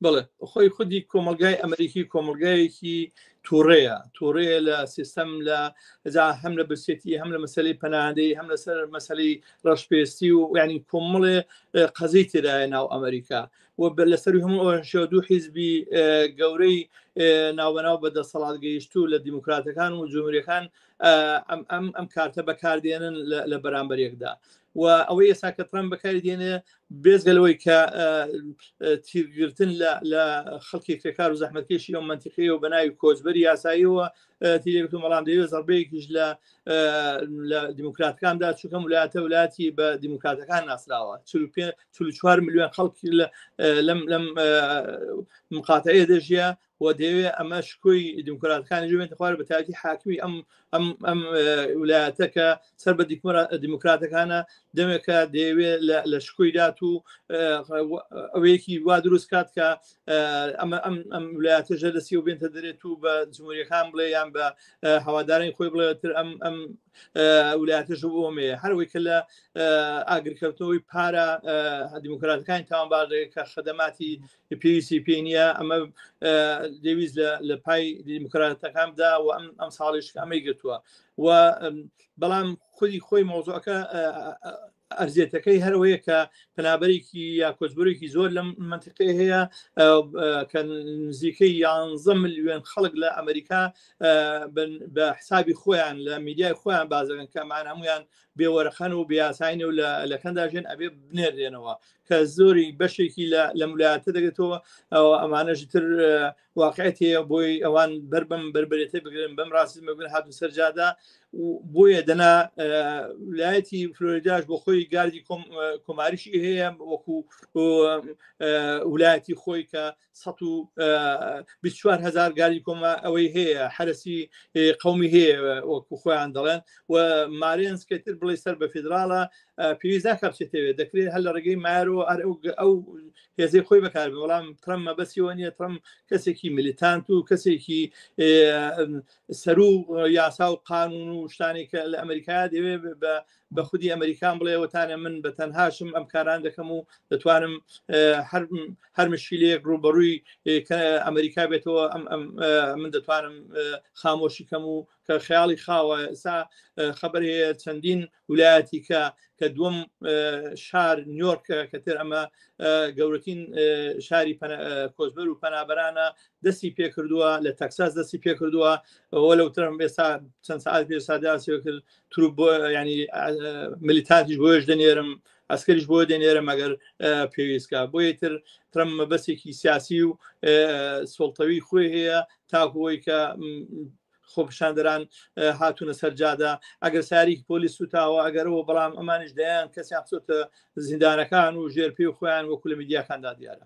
بڵێ خۆی خودی کۆمەلگای ئەمریکی کۆمەلگایەکی تووڕەیە تووڕەیە لە سیستەم لە ئەجا هەم لە برسێتی هەم لە مەسلی پەنادەی هەم لەسەر مەسلی ڕەشپێستی و ینی کۆمەڵێ قەزەی تێدایە ناو ئەمریکا و بە لەسەر هەموو ئەوشەوە دوو حیزبی گەورەی ناوبەناو بە دەسەڵات گەیشت و لە دیموکراتەکان و جمهوریەکان ئەم ئەم کارتە بەکاردێنن لە بەرامبەرێکدا و ئەوەی ئێستا کە ترامپ بەکاری دێنێ بێزگە لەوەی کە تیرگرتن لە خەڵکی کرێکار و زەحمەتکێشی ئەو منتیقی و بەناوی کۆچبەری یاساییەوە تیرێک و مەڵام دەوێت زەربەیەکیش لە لە دیموکراتەکاندا چونکەم ولاەتە ولاتی بە دیموکراتەکان ناسراوە چوار میلیۆن خەڵکی لەم لەم مقاتەیە دەژە و دەیەوێت ئەمە شکۆی دیموکراتەکانی ژێنێتە خوارە بە تاکی حاکمی ئەم ئەم ئەم ولایەتە کە سەر بە دیموکراتەکانە دەمێکە دەیەوێت لە شکۆی دات و ئەوەیەکی وا دروست کات کە ئەمە ئەم ئەم ولایەتە ژە دەستی و بێنتە دەرێت و بە جمهوریەکان بڵێ یان بە هەوادارانی خۆی بڵێتر ئەم ئەم ولایەتە ژ بۆمێ هەروەی کە لە ئاگرکەوتنەوەی پارە دیموکراتەکانی تاوانبارێک کە خەدەماتی پێویستی پێی نییە ئەمە دەویست لە پای دیموکراتەکاندا و ئەم ئەم ساڵیش ئەمەی گرتووە و بەڵام خودی خۆی مۆزۆەکە ئەرزێتەکەی هەروەیە کە پنابەرێکی یا کۆچبرێکی زۆر لەم منتیقی هەیە کە نزیکەی یانزە ملیۆن خەڵک لە ئەمریکا بە حسابی خۆیان لە میدیای خۆیان بازەکەن کەمان هەمویان بێ وەرەخەن و بیاساین و لە لەکەندا ژێن ئەبێ بنێرێنەوە کە زۆری بەشێکی لە مولاتە دەگێتەوە ئەوە ئەمانەشی تر واقعێت هەیە بۆی ئەوان بەر بەم بربێتە بگرن بەم ڕاستی مەگرن هاتو سەرجادا بۆیە دەنا لایەتی فلۆریداش بۆ خۆی گاردی کۆماریشی هەیە وەکو ولایەتی خۆی کە 24 هزار گاری کۆمە ئەوەی هەیە حرەسی قومی هەیە وەکو خۆیان دەڵێن و مارێنس کەتر بڵێ سەر بە فیدراڵە پێویست ناکەچێتەوێت دەکرێت هەر لە ڕێگەی مارۆ ئەر ئەو هێزەی خۆی بەکار بەڵام ترەم مەبەسیەوە نیە ترەم کەسێکی ملیتانت و کەسێکی سەرو یاسا و قانون و شتانی کە لە ئەمریکا دەوێت بە بە خودی ئەمریکان بڵێوەتانە من بە تەنهاشم ئەم کاران دەکەم و دەتوانم هەر مشیلەیەک ڕوبەڕووی ئەمریکا بێتەوە من دەتوانم خامۆشی کەم و کە خیاڵی خاوە ئسا خبر هەیە چەندین ولایەتی کە کە دوم شار نیۆرکە کەتر ئەمە گەورەترین شاری کۆزبەر و پەنابەرانە دەستی پێکردووە لە تەکساس دەستی پێکردووە ئەوە لەو ترم ئێستا چەند ساعت پێ ساداسیەوە کرد تروپ بۆ ینی ملیتانتیش بۆش دەنێرم ئەسکەریش بۆ دەنێرە مەگەر پێویستکە بۆ یتر ترم مەبەسێکی سیاسی و سڵتەوی خۆی هەیە تاکوەی کە خۆپشاندران هاتوونە سەرجادا ئەگەر ساریک پۆلیس سوتاوە ئەگەرەوە بەڵام ئەمانش دەیان کەسیان خۆتە زیندانەکان و ژێر پێ خۆیان وەکو لە میدیاکاندا دیارە